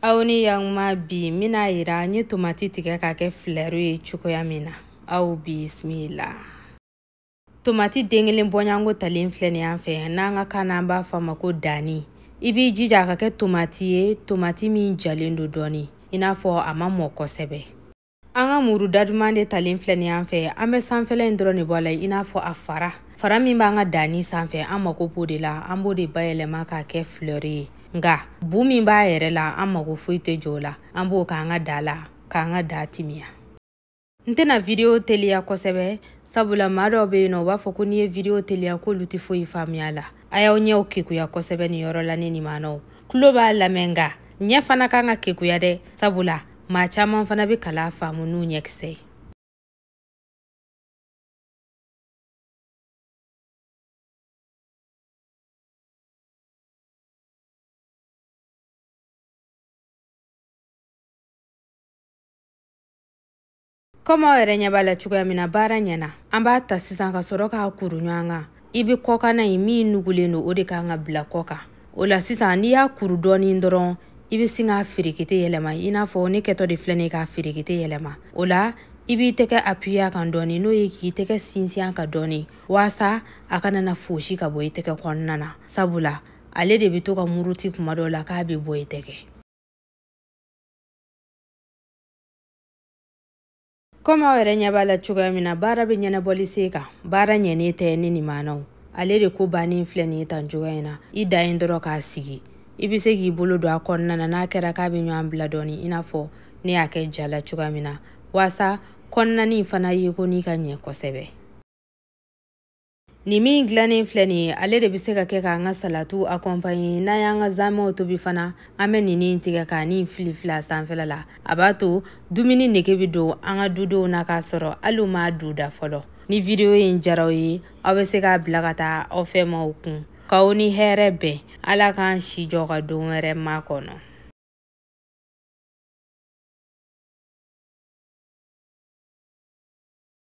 aw ni yakuma bi n bɛna yira n ye tomati tigɛ ka kɛ filɛru ye cogoya min na aw bisimila tomati den kelen bɔɲanko talen filɛ nin y'an fɛ n'an ka kan na an b'a fɔ a ma ko danni i b'i jija a ka kɛ tomati ye tomati min jalen don dɔɔni i n'a fɔ a ma mɔ kosɛbɛ an ka muru daduman de talen filɛ nin y'an fɛ an bɛ sanfɛla in dɔrɔn de bɔ a la i n'a fɔ a fara fara min b'an ka danni sanfɛ an mako b'o de la an b'o de bayɛlɛma k'a kɛ fleur ye nka bu min b'a yɛrɛ la an mako foyi tɛ jɔ o la an b'o k'an ka da la k'an ka da timiya n tɛna video teliya kosɛbɛ sabula maa dɔw bɛ yen nɔ u b'a fɔ ko n'i ye video teliya k'olu tɛ foyi faamuya la a y'aw ɲɛw kekuya kosɛbɛ nin yɔrɔ la ni nimanaw tulo b'a lamɛn nka ɲɛ fana kan ka kekuya dɛ sabula maa caman fana bɛ kalan faamu n'u ɲɛkisɛ ye kɔmi aw yɛrɛ ɲɛ b'a la cogoya min na baara ɲɛna an b'a ta sisan ka sɔrɔ k'a kuru ɲɔgɔn kan i bɛ kɔkanna in min nugulen don o de kan ka bila kɔ kan o la sisan n'i y'a kuru dɔɔnin dɔrɔn i bɛ sin k'a feerekete yɛlɛma i n'a fɔ ne kɛtɔ de filɛ nin ye k'a feerekete yɛlɛma o la i b'i tɛgɛ apuye a kan dɔɔni n'o ye k'i tɛgɛ sinsin a kan dɔɔni waasa a kana na fosi ka bɔ i tɛgɛ kɔnɔna na sabula ale de bɛ to ka muruti kuma dɔw la k'a bɛ bɔ i tɛgɛ komi aw yɛrɛ ɲɛ b'a la cogoya min na baara bɛ ɲɛnabɔli sen kan baara ɲɛnen tɛ ni nin maanaw ale de ko bannen filɛ nin ye tan cogoya in na i dan ye dɔrɔn k'a sigi i bɛ se k'i bolo don a kɔnɔna na n'a kɛra k'a bɛ ɲɔgɔn bila dɔɔni i n'a fɔ ne y'a kɛ ja la cogoya min na waasa kɔnɔnani fana yekonin ka ɲɛ kosɛbɛ nin min dilannen filɛ nin ye ale de bɛ se ka kɛ k'an ka salatu akɔnpanye n'an y'an ka zamɛw tobi fana an bɛ nin in tigɛ k'a ni fili fili a sanfɛla la a b'a to dumuni nege bɛ don an ka dudenw na k'a sɔrɔ hali u m'a don u da fɔlɔ ni video in jara aw ye aw bɛ se k'a bila ka taa aw fɛ maaw kun k'aw ni hɛrɛ bɛn ala k'an si jɔ ka don wɛrɛ makɔnɔ